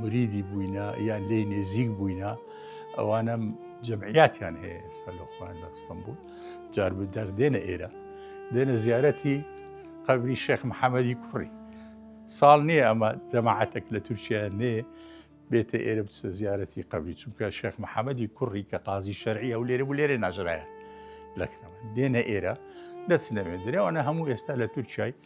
مریدی بووینە یان لێ نێزیک بووینە ئەوانە جمعیاتیان هەیە ئێستا لە خۆیان لە ئەستەمبول جار بدەر دێنە ئێرە دێنە زیارەتی قەبری شێخ محەممەدی کوڕی ساڵ نییە ئەمە جەماعاتێک لە تورکیا نێ بێتە ئێرە بچە زیارەتی قبلی چونکە شێخ محەممەدی کوڕی کە قازی شەرعی ئەو لێرە بوو لێرە ناژرایە لەکرەمە دێنە ئێرە دەچنەوێ درێوانە هەموو ئێستا لە تورکای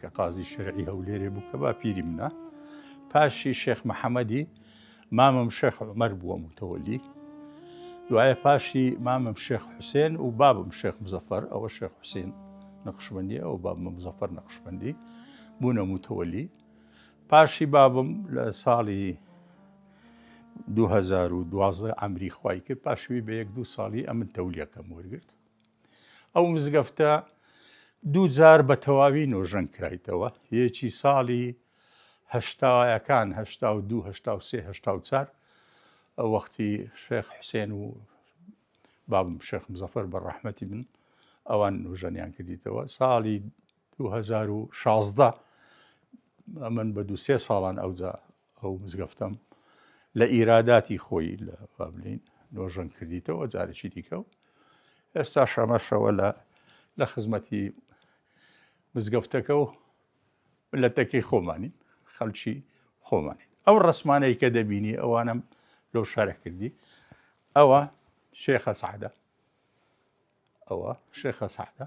کە قازی شەرعی هەولێرێ بوو کە باپیری منە پاشی شێخ محەممەدی مامم شێخ عمەر بووە متەوەلی دوایە پاشی مامم شێخ حوسێن و بابم شێخ مزەفەر ئەوە شێخ حوسین نەقشبندی ئەو بابمە مزەفەر نەقشبندی بوونە متەوەلی پاشی بابم لە ساڵی 2012 ئەمری خی کرد پاشوی بە یەک دوو ساڵی ئەمن تەولیەکەم وەرگرت ئەو مزگەفتە دوو جار بە تەواوی نۆژەن کرایتەوە، یەکی ساڵی هەشتایەکان هەشتا و دوو هەشتا و سێ هەشتا و چار ئەو وەختی شێخ حوسێن و بابم شێخ مزەفەر بە ڕەحمەتی من ئەوان نۆژەنیان کردیتەوە ساڵی دوو هەزار و شازدە ئەمن بە دوو سێ ساڵان ئەوجا ئەو مزگەفتەم لە ئیراداتی خۆی لە بابلین نۆژەن کردیتەوە جارێکی دیکە و ئێستا شەمەشەوە لە لە خزمەتی مزگەفتەکە و لەتەکەی خۆمانین خەلکی خۆمانین ئەو ڕسمانەی کە دەبینی ئەوانم لۆ شارە کردی ئەوە شێخە سعدا ئەوە شێخە سعدا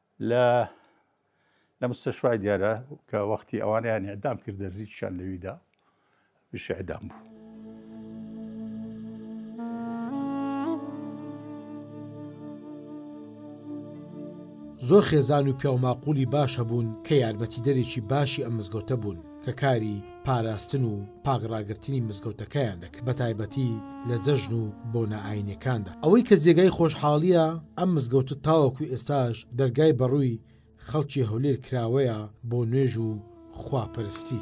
لە لە مستشفای دیارە کە وەختی ئەوانیان ئەدام کرد دەرزیشان لەویدا پیشی ئەدام بوو. زۆر خێزان و پیاوماقولی باش هەبوون کە یارمەتیدەرێکی باشی ئەم مزگەوتە بوون کە کاری پاراستن و پاک ڕاگرتنی مزگەوتەکەیان دەکرد بە تایبەتی لە جەژن و بۆ نائاینەکاندا ئەوەی کە جێگای خۆشحاڵیە ئەم مزگەوتە تاوەکو ئێستاش دەرگای بەڕووی خەڵکی هەولێر کراوەیە بۆ نوێژ و خواپەرستی.